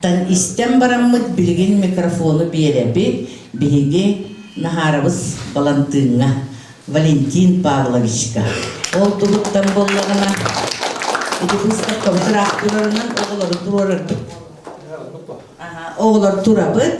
Тан истэн бараммыт билигин микрофону биэрэбит, биһиги наһаарабыс Балантыыҥҥа, Валентин Павловичка. Ол туһуттан буоллаҕына, ити быыстапкабыт ыраахтырарынан оҕолору туруорарбыт. Аха, оҕолор турабыт.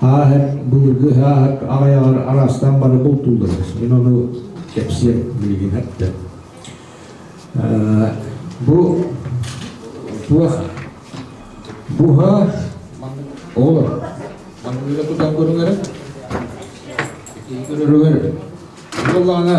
ааһар былыргы ааһар аҕайаҕар араастаан бары бултуулларбыт мин ону кэпсиэм билигин эрдэ бу туох буһа оҕолор манныгыга тутан көрүҥэр көрөрүгэр буоллаана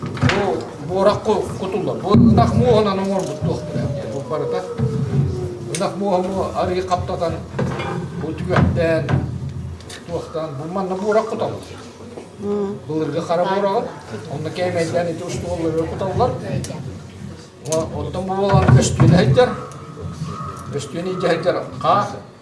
Бу буораххы кутуллар. Ынах муоһунан оҥорбут туохтара диэн. Бу барыта ынах муоһу арыый хаптатан, бу түгэхтээн, туохтаан, бу манна буорах куталлар. Былыргы хара буораҕын, онно кээмэйдээн ити устуоллары куталлар. Оттон бу буолан көстүөнэ сылдьар, көстүөнэ идьэ сылдьар хаа,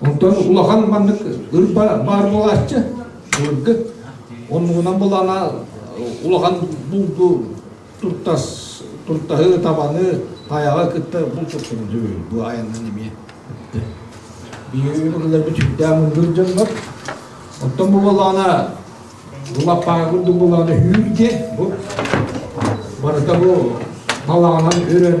Онтон улахан маннык ырба баар буолааччы былыргы. Оннугунан булана улахан булду туртас туртаһы табаны таяга кытта бул туртуну дүү бу аяннан эмиэ биирилэрбит сүрдээх мындыр дьоннор оттон бу балаана улаппаага курдук балаана үүргэ бу барыта бу балаанан өрөн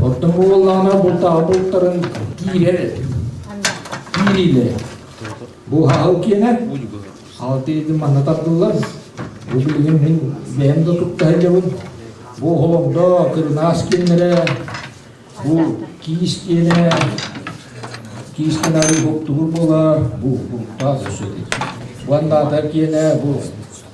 Оттон бу буоллаҕына бултаҕа бултарын киирэр киириилэр. Бу хаһыл киэнэ алты үйдин манна тардыллар. Бу билигин мин бэйэм да тутта иһлебин. Бу холомдо кырынаас кииннэрэ, бу киис киэнэ, киис киэнэ арыый боктугур буолар, бу бултаах өсөтө. Уоннаата киэнэ бу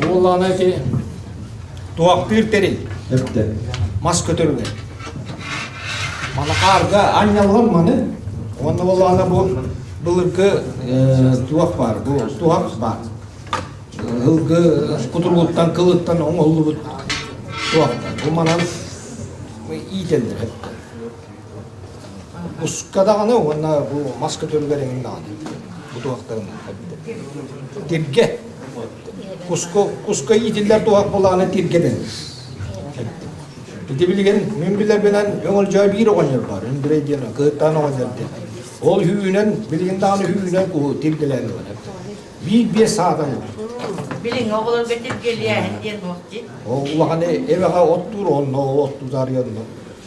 Буоллаҕына ити туохтыыр тэрил эрдэ мас көтөрүгэр манахаарга анньаллар маны уонна буоллаҕына бу былыргы туох баар бу туһах баар ылгы кутуругуттан кылыттан оҥоллубут туохтар бу манан иитэллэр Буска даҕаны уонна бу мас көтөрүгэр эҥин даҕаны бу туһахтарын эппитэ. Тиргэ. Куску, куска иитиллэр туһах булааны тиргэ дэн. Ити билигин мин билэрбинэн өҥөл жай биир оҕонньор бар. Үндүрэй диэн кыһыттан оҕонньор диэн. Ол хүүнэн, билигин даҕаны хүүнэн куһу тиргэлээн ылар. Биир биэс саатан Билиҥ оҕолорго тиргэлиэһин диэн уох ди. Ол улахан эбэҕэ оттуур онно оттуутаарыйанна.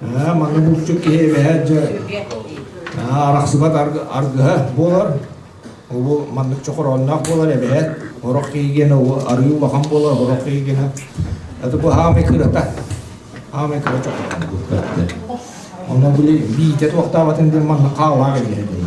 Ээ, манна булчут киһи эбэһэ дьэ арахсыбат аргыһа буолар. Ол маннык чохороонноох буолар эбэһэ. Орох киигиэнэ арыы улахан буолар, орох киигиэнэ. Это бу хаамай кырата. Хаамай кыра чохороон булкатты. Ону били биите туохтаабатын дин манна хаалаах эбэһэ дейді.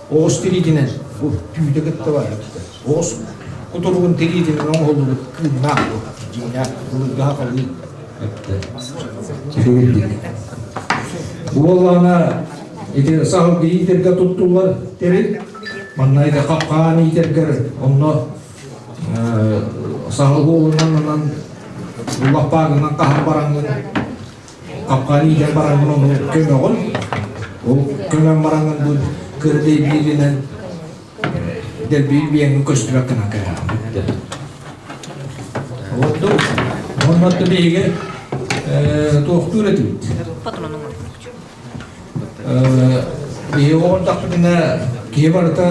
Оҕус тириитинэн түүтэ кытта барбыттар. Оҕус кутуругун тириитинэн оҥоһуллубут кыымнаах буол. Дьиҥнээх былыргаһа халыын. Уоллаана ити саһыл иитэргэ туттуллар тэрил. Манна ити хапкаан иитэргэр онно саһыл уолунан анан уллаппаагынан хаһан бараҥҥын Хапкаан иитэн бараҥҥын онно көмөҕүн. Ол көмөн бараҥын бу кырдый бииринэн дэлбиир биэҥҥин көстүбэк гынан кэрэҕин. Ордук онно отто биһиги туохтуур этибит. Биһиги оҕон тахпытына киһи барыта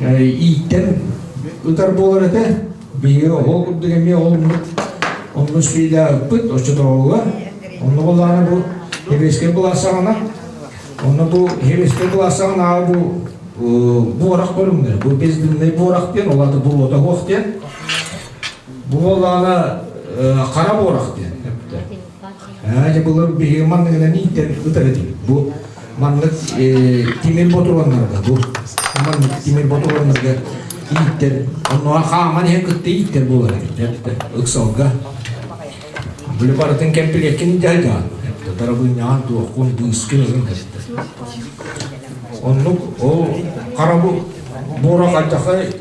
ииттэн ытар буолар этэ биһиги ол курдук эмиэ олуммут онно сфиляппыт оччотооҕуга онно болаана бу еврейскай былассаҕана онно бу еврейскай былассаҕана аал бу буорах көрүҥдэр бу бездынный буорах диэн олата болото хуох диэн бу болаана хара буорах диэн эпте Ээ, дьэ булар биһиги манныгынан иитэр ытар этим. Бу маннык э, тимир ботуроннарга бу маннык тимир ботуроннарга ииттэр онно хааман иһэ кытта ииттэр булар этиттэр ыксалга били барытын кэмпилиэккин дьайда тарабынньаан туохкун быыскын ызын эттэ оннук ол қарабу буора қанчақай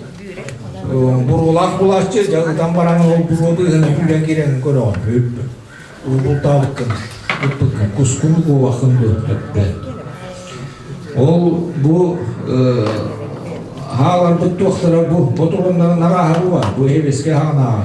Буруолаах булааччы дьаһытан баран ол буруоты ыһын күүрэн кирэн көрөҕүн бүппүт. Уубултаабыккын ыппыккын кускун куубахын бүппүт. Ол бу хааларбыт туохтара бу ботуроннарын арааһа бу бар бу эбеске хаанааҕа.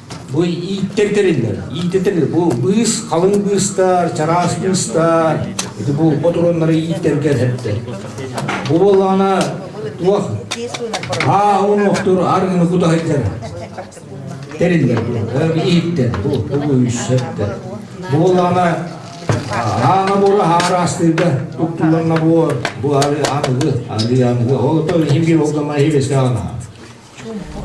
Бу ииттэр тэриллэр. Ииттэр тэриллэр. Бу быыс, халыҥ быыстар, чараас быыстар. Ити булба тураннары ииттэргэ эһэттэр. Бу буоллаҕына туох аа онуохтур арыгыны кута сылдьар. Тэриллэр бу. Ииттэр. Бу бу үссэттэр. Бу буоллаҕына аана буола хараастыырга туттулланна буор бу ары аныгы ары аныгы ол то химгер болганна хибеске ана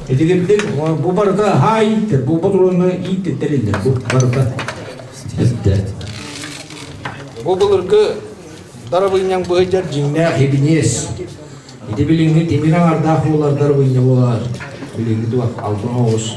Ити кэлдик бу барыта хаай, бу ботуруонга иит тэриллэр. Бу барыта ирдэ. Бу былыргы дарабынньаң быһыйдар дьиҥнээх ибиниэс. Ити билиҥҥи тимир аҥардаах буолар дарабынньа буолар. Билиҥҥи туох албан оҕус.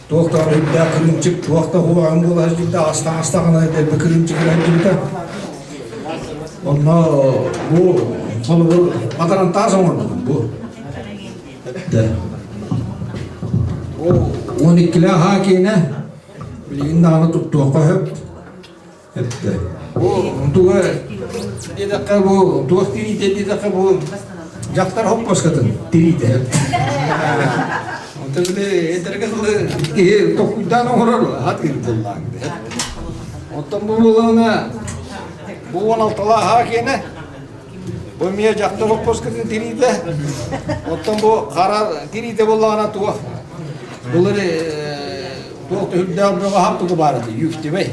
Туох да өйдөөх кырыымчык, туох да улахан буолар дьикті астаҕына дэлби кырыымчыгын айдыбыта. Онно бу холобур батаран таас оҥорбутум бу. Он иккиле аhaa киэнэ, билигин даҕаны туттуохха сөп. эттэ. Бу тугай диэтэххэ бу туох тириитэ диэтэххэ бу дьахтар хоппоскатын тириитэ. Онто били этерге сылы киһи токуйдаан оҥорор атыыр буллаан дэ. Оттон бу булана бу он алталааха киэнэ. Бу мия дьахтар хоппоскатын тириитэ. Оттон бу хара тириитэ буллаана туох. Булар туох түһүрдээх бөҕө хап тугу баарыты юктибей.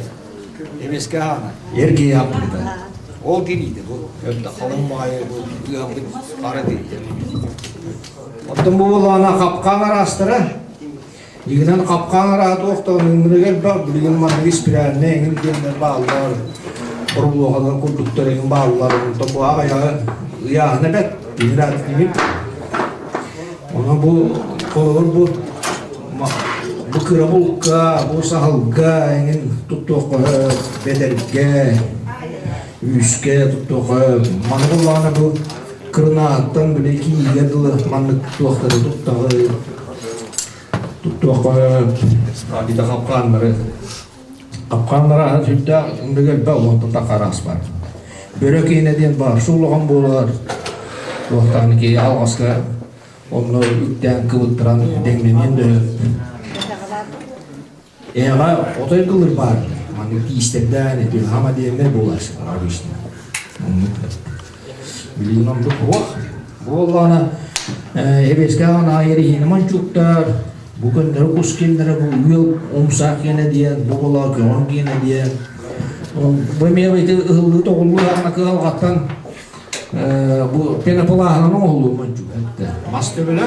Эмискэ аана эргийэ аппыта. Ол киниите бу өрдө халыҥ маайы бу ыамбыт хара тириитэ. Оттон бу болаана хапкаан араастара. Игинэн хапкаан араат охтоон үҥмүнүгэр бақ билигин маннык испирээннэ эҥин диэннэр бааллар. Орулуоханан курдуктар эҥин бааллар. Онто бу аҕайаҕы ыйааһына бэт. Инират имит. Ону бу холобур бу бу кырабылка, бу саһылга эҥин туттуохха бэтэргэ, үүскэ туттуохха маны буллаҕына бу кырынааттан били киигэ дылы маннык туохтары туттаҕы туттуохха бита хапкааннары Капкан раһын сүрдээх ындыга элбэ олохтонта хараас бар. Бөрө киинэ диэн бар суулаҕан буолар. Туохтаан ки алҕаска онно үктээн кыбыттыран дэҥнэниэн дөрөт. Эҕа отой кылыр бар. Маннык тиистердээн этин хамадиэннэр буолар обычно. Билигин ордук уох буоллаҕына Эбэскэҕин аайы иһини мончууктар бу күннэри кус кимнэрэ бу ыал умсаа киэнэ диэн бу була көҥүл киэнэ диэн бу эмиэ ити ыһыллыы тоҕуллуу акыалҕаттан бу пеноплаһынан оҥоһуллуо мончуук мас төбөлө